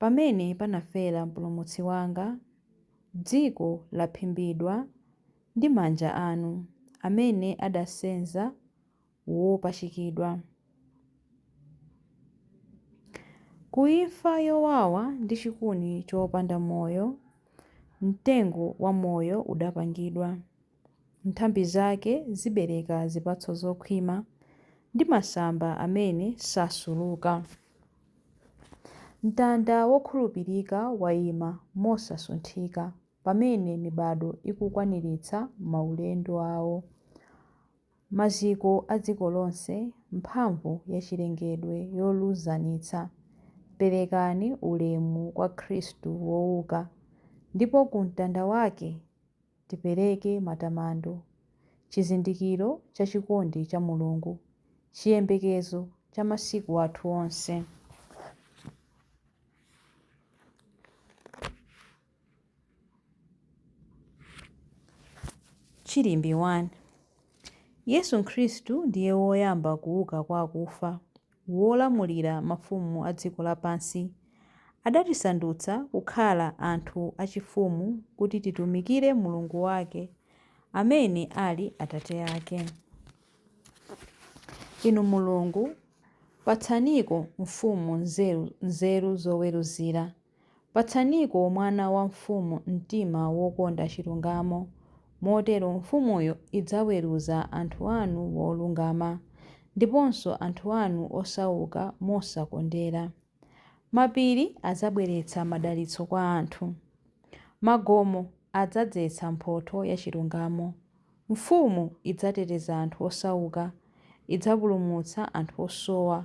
Pamene panafera Mpulumutsi wanga, Dziko laphimbidwa ndi manja anu, Amene adasenza wopachikidwa. Ku imfa yowawa ndi chikuni chopanda moyo, Mtengo wa moyo udapangidwa. Nthambi zake zibereka zipatso zokhwima ndi masamba amene sasuluka. Mtanda wokhulupirika waima mosasunthika pamene mibado ikukwaniritsa maulendo awo. Maziko a dziko lonse, mphamvu yachilengedwe yoluzanitsa, perekani ulemu kwa Khristu wouka, ndipo ku mtanda wake! Tipereke matamando, chizindikiro cha chikondi cha Mulungu, chiyembekezo cha masiku athu onse. Chilimbi 1. Yesu Khristu ndiye woyamba kuuka kwa akufa. wolamulira mafumu a dziko lapansi, adatisandutsa kukhala anthu achifumu kuti titumikire Mulungu wake, amene ali Atate ake. Inu Mulungu, patsaniko mfumu nzeru zoweruzira. Patsaniko mwana wa mfumu mtima wokonda chilungamo, motero mfumuyo idzaweruza anthu anu molungama, ndiponso anthu anu osauka mosakondera. Mapiri adzabweretsa madalitso kwa anthu. Magomo adzadzetsa mphotho ya chilungamo. Mfumu idzateteza anthu osauka, idzapulumutsa anthu osowa.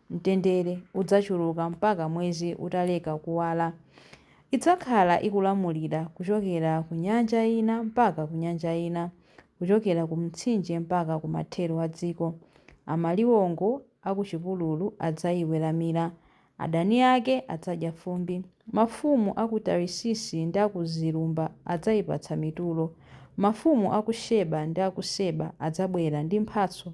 Mtendere udzachuluka mpaka mwezi utaleka kuwala. Idzakhala ikulamulira kuchokera ku nyanja ina mpaka ku nyanja ina, kuchokera ku Mtsinje mpaka ku mathero a dziko. Amaliwongo a ku chipululu adzayiweramira. Adani ake adzadya fumbi. Mafumu a ku Tarisisi ndi a ku zilumba adzayipatsa mitulo. Mafumu a ku Sheba ndi a ku Seba adzabwera ndi mphatso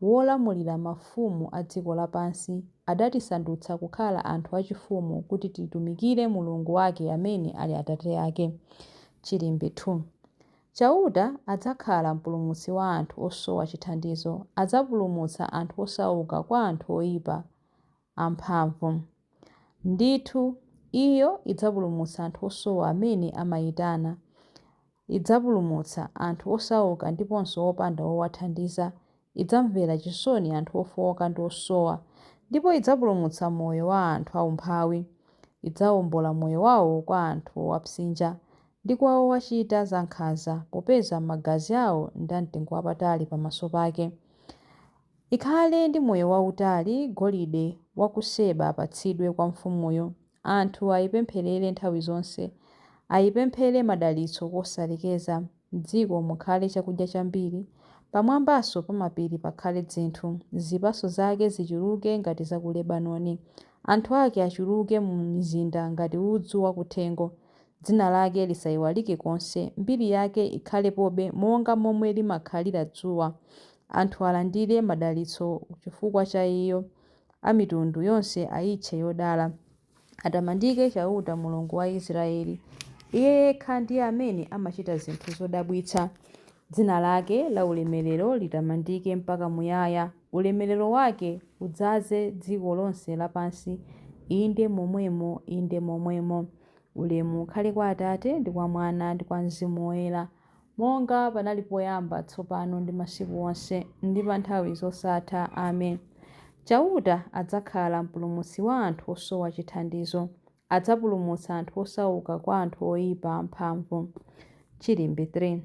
wolamulira mafumu a dziko lapansi, adatisandutsa kukhala anthu achifumu kuti titumikire Mulungu wake amene ali Atate ake. Chilimbi 2 Chauta adzakhala mpulumutsi wa anthu osowa chithandizo, adzapulumutsa anthu osauka kwa anthu oipa amphamvu. Ndithu, Iyo idzapulumutsa anthu osowa amene amaitana. Idzapulumutsa anthu osauka ndiponso opanda wowathandiza, idzamvera chisoni anthu ofooka ndi osowa, ndipo idzapulumutsa moyo wa anthu aumphawi. Idzawombola moyo wawo kwa anthu owapsinja ndi kwa owachita zankhanza, popeza magazi awo ndi amtengo wapatali pamaso pake. Ikhale ndi moyo wautali Golide wa ku Seba apatsidwe kwa mfumuyo. Anthu ayipempherere nthawi zonse, ayipemphere madalitso kosalekeza, m'dziko mukhale chakudya chambiri, pamwambanso pa mapiri pakhale dzinthu, zipatso zake zichuluke ngati za ku Lebanoni, anthu ake achuluke mu mizinda ngati udzu wa kuthengo. Dzina lake lisayiwalike konse, mbiri yake ikhalepobe monga momwe limakhalira dzuwa, anthu alandire madalitso chifukwa cha iyo. a mitundu yonse aitche yodala. Atamandike Chauta, Mulungu wa Israeli. Iye yekha ndiye amene amachita zinthu zodabwitsa. Dzina lake laulemerero litamandike mpaka muyaya. Ulemerero wake udzaze dziko lonse lapansi. Inde momwemo, inde momwemo. Ulemu ukhale kwa Atate, ndi kwa Mwana, ndi kwa Mzimu Woyera. monga panali poyamba, tsopano ndi masiku onse, ndi pa nthawi zosatha. Amen. Chauta adzakhala Mpulumutsi wa anthu osowa chithandizo, adzapulumutsa anthu osauka kwa anthu oipa amphamvu. Chilimbi 3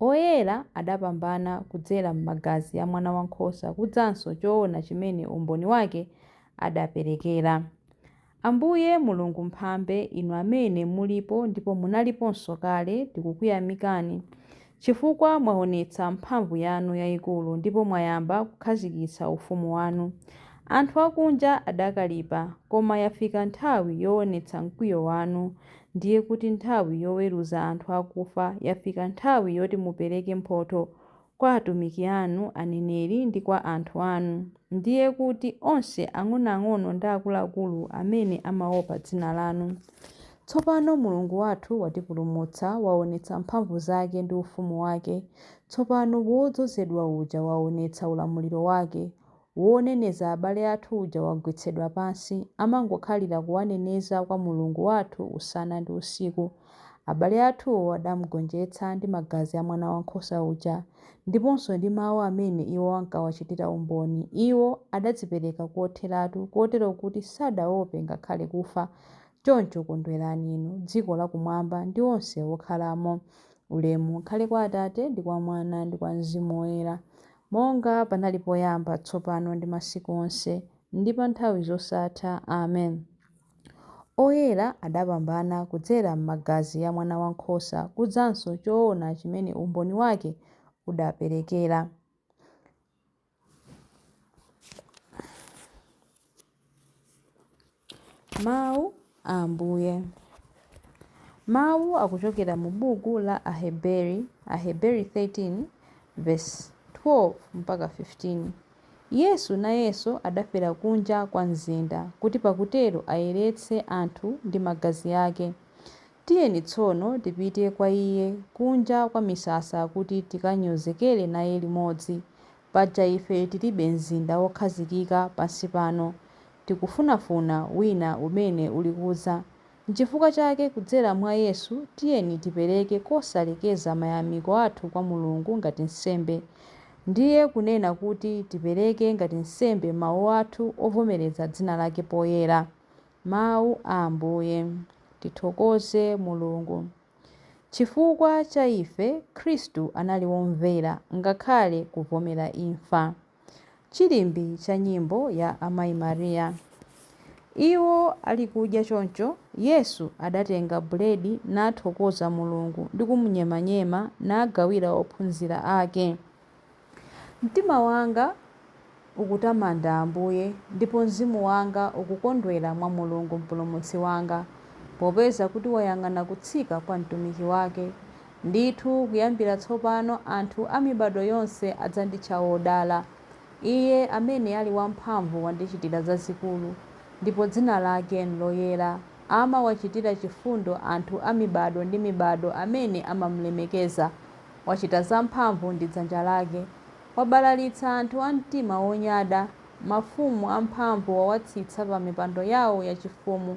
Oyera adapambana kudzera m'magazi a Mwanawankhosa kudzanso choona chimene umboni wake adaperekera. Ambuye, Mulungu Mphambe, Inu Amene mulipo ndipo munaliponso kale, tikukuyamikani chifukwa mwaonetsa mphamvu yanu yaikulu ndipo mwayamba kukhazikitsa ufumu wanu. Anthu akunja adakalipa, koma yafika nthawi yoonetsa mkwiyo wanu, ndiye kuti nthawi yoweruza anthu akufa, yafika nthawi yoti mupereke mphotho kwa atumiki anu aneneri ndi kwa anthu anu, ndiye kuti onse ang'onoang'ono ndi akuluakulu amene amaopa dzina lanu. Tsopano Mulungu wathu watipulumutsa, waonetsa mphamvu zake ndi ufumu wake. Tsopano Wodzozedwa uja waonetsa ulamuliro wake, Woneneza abale athu uja wagwetsedwa pansi, amangokhalira kuwaneneza kwa Mulungu wathu usana ndi usiku. Abale athuwo adamgonjetsa ndi magazi a Mwanawankhosa uja, ndiponso ndi mau amene iwo ankawachitira umboni. Iwo adadzipereka kotheratu, kotero kuti sadaope ngakhale kufa. Choncho kondwerani inu, dziko lakumwamba, ndi onse okhalamo. Ulemu ukhale kwa Atate, ndi kwa Mwana, ndi kwa Mzimu Woyera. Monga panali poyamba, tsopano ndi masiku onse, ndi pa nthawi zosatha. Amen. Oyera adapambana kudzera m'magazi ya Mwana wa Nkhosa kudzanso choona chimene umboni wake udaperekera. Mawu a Ambuye. Mawu akuchokera mu buku la Aheberi, Aheberi 13 vesi 12 mpaka 15. Yesu nayenso adafera kunja kwa mzinda, kuti pakutero ayeretse anthu ndi magazi ake. Tiyeni tsono tipite kwa iye kunja kwa misasa kuti tikanyozekere naye limodzi, Paja ife tilibe mzinda wokhazikika pansi pano. Tikufunafuna wina umene ulikudza. Nchifukwa chake kudzera mwa Yesu tiyeni tipereke kosalekeza mayamiko athu kwa Mulungu ngati nsembe. Ndiye kunena kuti tipereke ngati nsembe mau athu ovomereza dzina lake poyera. Mau a Ambuye. Tithokoze Mulungu. Chifukwa cha ife, Khristu anali womvera ngakhale kuvomera imfa. Chilimbi cha nyimbo ya Amayi Maria. Iwo ali kudya choncho, Yesu adatenga buledi nathokoza Mulungu ndi kumunyemanyema nagawira ophunzira ake. Mtima wanga ukutamanda Ambuye, ndipo mzimu wanga ukukondwera mwa Mulungu Mpulumutsi wanga, popeza kuti wayang'ana kutsika kwa mtumiki wake. Ndithu kuyambira tsopano anthu a mibado yonse adzanditcha wodala. Iye amene ali wamphamvu wandichitira zazikulu, ndipo dzina lake n'loyera. Amawachitira chifundo anthu a mibado ndi mibado amene amamulemekeza. Wachita zamphamvu ndi dzanja lake, wabalalitsa anthu a mtima wonyada, mafumu amphamvu wawatsitsa pamipando yawo yachifumu,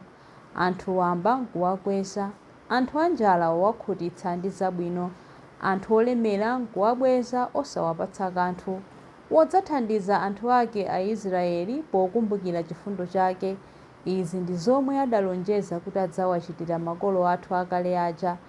anthu wamba n'kuwakweza. Anthu anjala wawakhutitsa ndi zabwino, anthu olemera n'kuwabweza osawapatsa kanthu. Wadzathandiza anthu ake Aisraeli pokumbukira chifundo chake, izi ndi zomwe adalonjeza kuti adzawachitira makolo athu akale aja,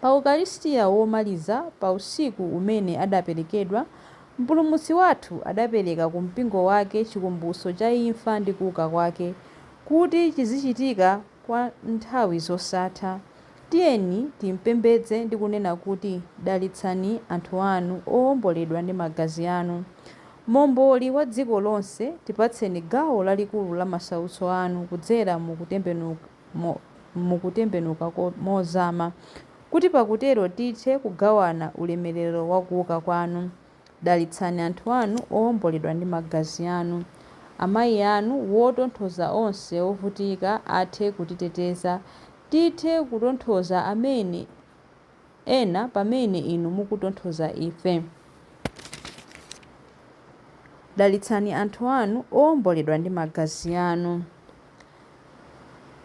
Pa Ukaristia womaliza pa usiku umene adaperekedwa, Mpulumutsi wathu adapereka ku Mpingo wake chikumbutso cha imfa ndi kuuka kwake, kuti chizichitika kwa nthawi zosatha. Tiyeni timpembedze ndi kunena kuti, Dalitsani anthu anu owomboledwa ndi magazi anu. Momboli wa dziko lonse, tipatseni gawo lalikulu la masautso anu kudzera mu kutembenuka. mu kutembenuka mozama, kuti pakutero tithe kugawana ulemerero wa kuwuka Kwanu. Dalitsani anthu Anu owomboledwa ndi Magazi Anu. Amayi Anu, wotonthoza onse ovutika, athe kutiteteza. Tithe kutonthoza amene, ena pamene Inu mukutonthoza ife. Dalitsani anthu Anu owomboledwa ndi Magazi Anu.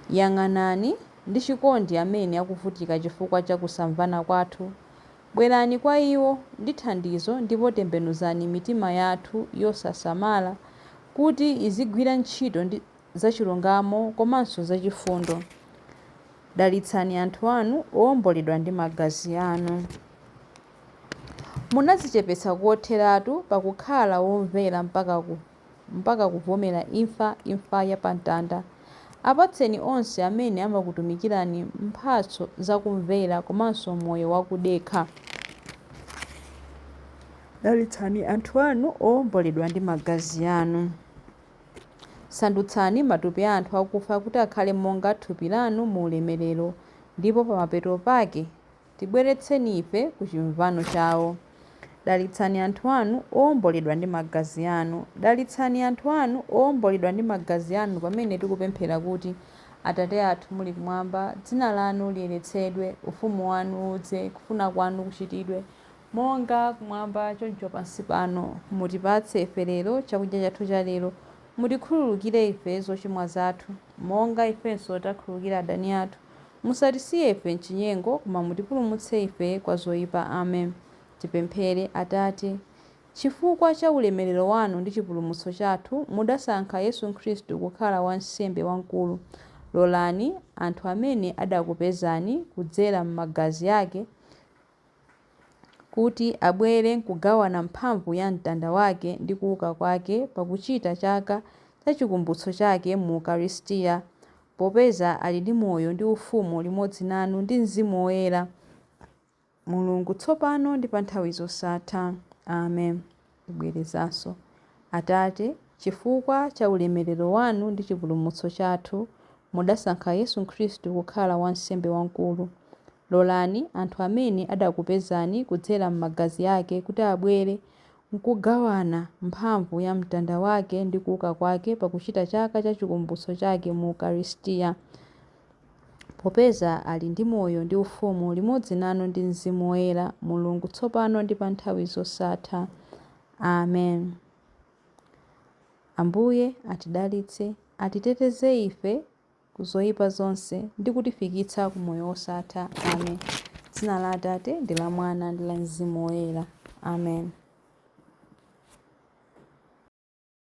Yang'anani ndi chikondi amene akuvutika chifukwa cha kusamvana kwathu. Bwerani kwa iwo ndi thandizo ndipo tembenuzani mitima yathu yosasamala kuti izigwira ntchito zachilungamo komanso zachifundo. Dalitsani anthu anu owomboledwa ndi magazi anu. Munadzichepetsa kotheratu pakukhala womvera mpaka ku. mpaka kuvomera imfa, imfa ya pa mtanda. Apatseni onse amene amakutumikirani mphatso za kumvera komanso moyo wa kudekha. Dalitsani anthu anu owomboledwa ndi magazi anu. Sandutsani matupi a anthu akufa kuti akhale monga thupi lanu mu ulemerero, ndipo pamapeto pake Tibweretseni ife ku chimvano chawo. Dalitsani anthu Anu owomboledwa ndi Magazi Anu. Dalitsani anthu Anu owomboledwa ndi Magazi Anu pamene tikupemphera kuti, Atate athu muli Kumwamba, Dzina Lanu liyeretsedwe, Ufumu Wanu udze, kufuna Kwanu kuchitidwe, monga Kumwamba choncho pansi pano. Mutipatse ife lero chakudya chathu chalero. Mutikhululukire ife zochimwa zathu. monga ifenso takhululukira adani athu. Musatisiye ife m'chinyengo, koma mutipulumutse ife kwa zoipa. Amen. Tipemphere. Atate. Chifukwa cha ulemerero wanu ndi chipulumutso chathu, mudasankha Yesu Khristu kukhala wansembe wamkulu. Lolani anthu amene adakupezani kudzera m'magazi ake kuti abwere n'kugawana mphamvu ya mtanda wake ndi kuuka kwake pakuchita chaka cha Chikumbutso chake mu Ukaristia, popeza ali ndi moyo ndi ufumu limodzi nanu ndi Mzimu Woyera, Mulungu, tsopano ndi panthawi zosatha. Ame. Ndibwerezanso, Atate, chifukwa cha ulemerero wanu ndi chipulumutso chathu, mudasankha Yesu Khristu kukhala Wansembe Wamkulu, Lolani anthu amene adakupezani kudzera m'magazi ake kuti abwere n'kugawana mphamvu ya mtanda wake ndi kuuka kwake pakuchita chaka cha Chikumbutso chake mu Ukaristia, popeza ali ndi moyo ndi ufumu limodzi nanu ndi Mzimu Woyera, Mulungu, tsopano ndi pa nthawi zosatha. Amen. Ambuye atidalitse, atiteteze ife. ku zoipa zonse ndi kutifikitsa ku moyo wosatha. Amen. Dzina la Atate, ndi la Mwana, ndi la Mzimu Woyera. Amen.